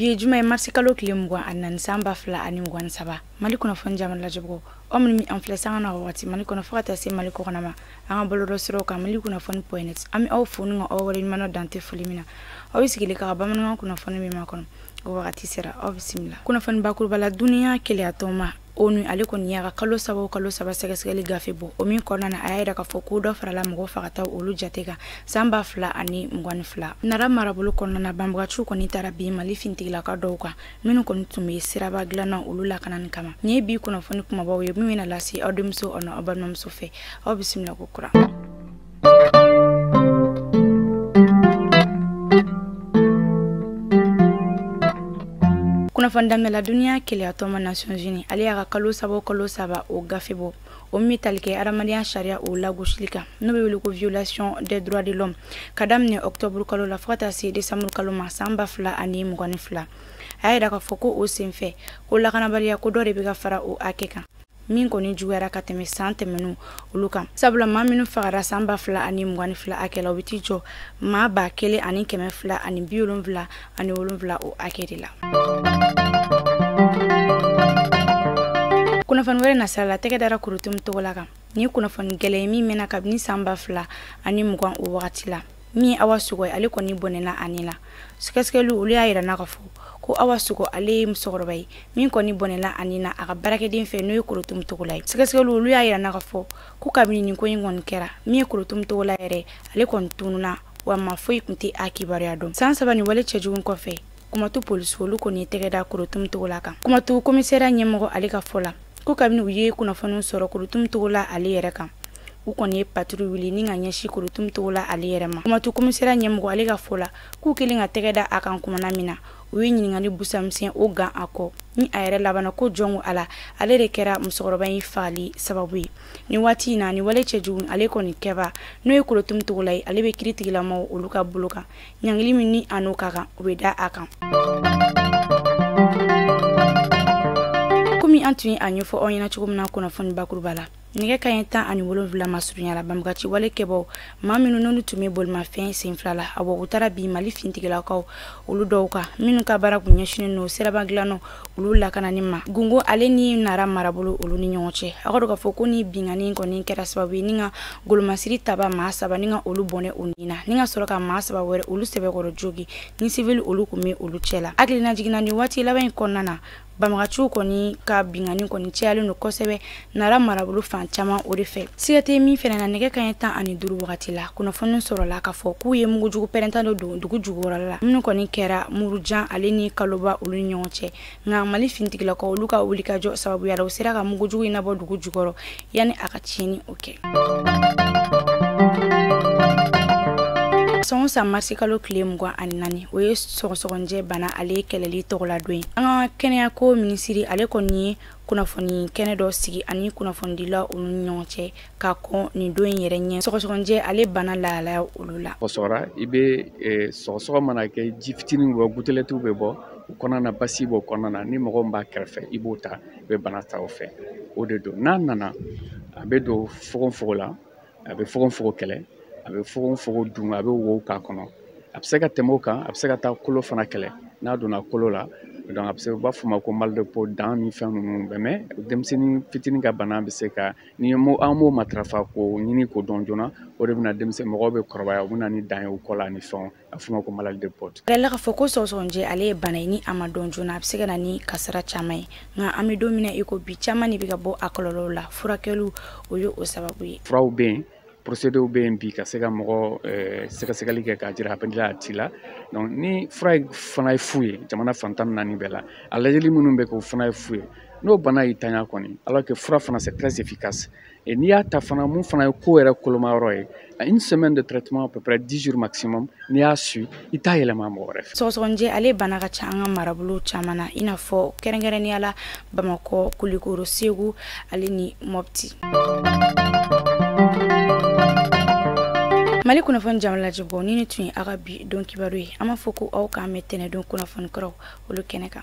bi ye juma ye marisikalo tile mugan ani naani san ba fila ani mugan ni saba mali kunnafoni jabaranin lajɛbagaw aw minnu b'an filɛ sanga ani wagati mali kɔnɔ fo ka taa se mali kɔkɔna ma an ka bɔlɔlɔ siraw kan mali kunnafoni point net an bɛ aw fo ni ka aw waleɲumandɔn dan tɛ foli min na aw bɛ sigilen k'an ka bamanankan kunnafoni min makɔnɔ o wagati sera aw bisimila kunnafoni bakuruba la duniya kelenyatɔnba onu ale kɔni y'a ka kalo saba o kalo saba sɛgɛsɛgɛli gafe bɔ o min kɔnɔna na a y'a yira k'a fɔ ko dɔ farala mɔgɔ fagataw olu jate kan san ba fila ani mugan ni fila nara marabolo kɔnɔna na banbaganciw kɔni taara bin mali finitigilaka dɔw kan minnu kɔni tun be siraba dilannaw olu lakanani kama nin ye bi kunnafoni kumabaw ye min bena lase aw denmuso ani aw balimamuso fɛ aw bisimila ko kura kunnafoni daminɛ la duniya kelenyatɔnba nations unies ale y'a ka kalo saba o kalo saba o gafe bɔ o min tali kɛ adamadenya sariya o lagosili kan n'o bɛ wele ko violation des droits de l'homme ka daminɛ octobre kalo la fo ka taa se décembre kalo ma san ba fila ani mugan ni fila a y'a yira k'a fɔ ko o senfɛ ko lakanabaliya ko dɔ de bɛ ka fara o hakɛ kan min kɔni juguyara ka tɛmɛ san tɛmɛnenw olu kan sabula maa minnu fagara san ba fila ani mugan ni fila hakɛ la o bɛ t'i jɔ maa ba kelen ani kɛmɛ fila ani bi wolonfila ani wolonfila o hakɛ de la kunnafoni wɛrɛ nasira la tɛgɛ dara korotum togola kan nin kunnafoni gɛlɛn ye min mɛnna kabini san ba fila ani mugan o wagati la min ye awa sogo ye ale kɔni bɔnɛna a ni la sɛgɛsɛgɛliw olu y'a yira an na k'a fɔ ko awa sogo ale ye musokɔrɔba ye min kɔni bɔnɛna a ni na a ka baarakɛden fɛ n'o ye korotum togola ye sɛgɛsɛgɛliw olu y'a yira an na k'a fɔ ko kabini nin ko in kɔni kɛra min ye korotum togola yɛrɛ ale kɔni tununa wa maa foyi tun tɛ a kibaruya dɔn san saba nin wale cɛjugu in kɔfɛ kumantu polisiw olu kɔni ye tɛgɛ da korotum togola kan kumantu komisariya ɲɛmɔgɔ ale ka fɔ la ko kabini u ye kunnafoniw sɔrɔ korotum togola ale yɛrɛ kan u kɔni ye patrouille wuli ni ka ɲɛsi korotum togola ale yɛrɛ ma kumantu komisera ɲɛmɔgɔ ale ka fɔ la k'u kɛlen ka tɛgɛ da a kan kumana min na u ye ɲininkali busamisɛn o gan a kɔ ni a yɛrɛ labanna ka jɔn ko a la ale de kɛra musokɔrɔba in fagali sababu ye nin waati in na nin wale cɛjugu ale kɔni kɛbaa n'o ye korotum togola ye ale bɛ kiritigɛla maaw olu ka bolo kan ɲangili min ni a n'o ka kan u bɛ da a kan komi an tun ye a ɲɛfɔ aw ɲɛna cogo min na kunnafoni bakuruba la nɛgɛ kanɲɛ tan ani wolonfila masurunya la banbaganci wale kɛbaaw maa minnu n'olu tun bɛ bolimafɛn sen fila la awa u taara bin mali finitigilakaw olu dɔw kan minnu ka baara kun ɲɛsinen don siraba dilannaw olu lakanani ma gungo ale ni nara marabolo olu ni ɲɔgɔn cɛ a ka dɔn k'a fɔ ko nin binkanni kɔni kɛra sababu ye ni ka golomasiri taba maa saba ni ka olu bɔnɛ u ni na ni ka sɔrɔ ka maa saba wɛrɛ olu sɛbɛkɔrɔ jogin ni sivili olu tun bɛ olu cɛ la hakilinajigin na nin waati laban in kɔnɔna na banbaganciw kɔni ka binkanni kɔni cayalen don kosɛbɛ nara marabolo fan caman o de fɛ siga tɛ min fɛnɛ na nɛgɛ kaɲɛ tan ani duru wagati la kunnafoni sɔrɔla k'a fɔ k'u ye mugujugu pɛrɛnta dɔ don dugu jukɔrɔla minnu kɔni kɛra murujan ale ni kaloba olu ni ɲɔgɔn cɛ nka mali finitigilakaw olu ka wulikajɔ sababuya la u sera ka mugujugu in nabɔ dugu jukɔrɔ yanni a ka tiɲɛni o kɛ san o san marisikalo tile mugan ani naani o ye sɔgɔsɔgɔnjɛ bana ale kɛlɛli tɔgɔladon ye an ka kɛnɛyako minisiri ale kɔni ye kunnafoni kɛnɛ dɔ sigi a ni kunnafonidila olu ni ɲɔgɔn cɛ ka kɔn nin don in yɛrɛ ɲɛ sɔgɔsɔgɔnjɛ ale bana lahalaya olu la o sɔrɔ i bɛ eh, sɔgɔsɔgɔ mana kɛ ji fitininw bɔ gouttelettew bɛ bɔ o kɔnɔna na bacille b'o kɔnɔna na ni mɔgɔ min b'a kɛrɛfɛ i b'o ta u bɛ bana ta o fɛ o de don n'a nana a bɛ don fogofogo la a bɛ fogofogo kɛlɛ a bɛ fogofogo dun a bɛ wo k'a kɔnɔ a bɛ se ka tɛmɛ o kan a bɛ se ka taa kolo fana kɛlɛ n'a donna kolo la donc a bɛ se u b'a fɔ ma ko mal de Pott dan ni fɛn ninnu bɛɛ mɛ denmisɛnnin fitinin ka bana bɛ se ka ni mo an m'o matarafa k'o ɲini k'o dɔn joona o de bɛna denmisɛnnin mɔgɔw bɛ kɔrɔbaya u bɛ na ni dan ye u kɔ la ni fɛnw a f'o ma ko maladie de Pott jirala k'a fɔ ko sɔgɔsɔgɔnijɛ ale ye bana ye ni a ma dɔn joona a bɛ se ka na ni kasara caman ye nka an bɛ don min na i ko bi caman de bɛ ka bɔ a kɔlɔlɔw la furakɛliw o ye o sababu ye furaw bɛ yen procédéw bɛ yen bi ka se ka mɔgɔ eh, sɛgɛsɛgɛli kɛ k'a jira a b'i la a t'i la donc ni fura fana ye fu ye jamana fan tan naani bɛɛ la a lajɛli minnu bɛ kɛ o fana ye fu ye n'o bana y'i tanya kɔni alors que fura fana c'est très efficace Et n'i y'a ta fana min fana ye ko yɛrɛ kolomayɔrɔ ye à une semaine de traitement à peu près 10 jours maximum n'i y'a suivi i t'a yɛlɛma mɔgɔ wɛrɛ fɛ sɔgɔsɔgɔnijɛ ale bana ka ca an ka marabolo caman na i n'a fɔ kɛrɛnkɛrɛnnenya la bamakɔ kulikoro segu ale ni mɔpti mali kunnafoni jama lajɛbaw nin de tun ye aw ka bi don kibaru ye an b'a fɔ ko aw k'an bɛn tɛnɛndon kunnafoni kuraw olu kɛnɛ kan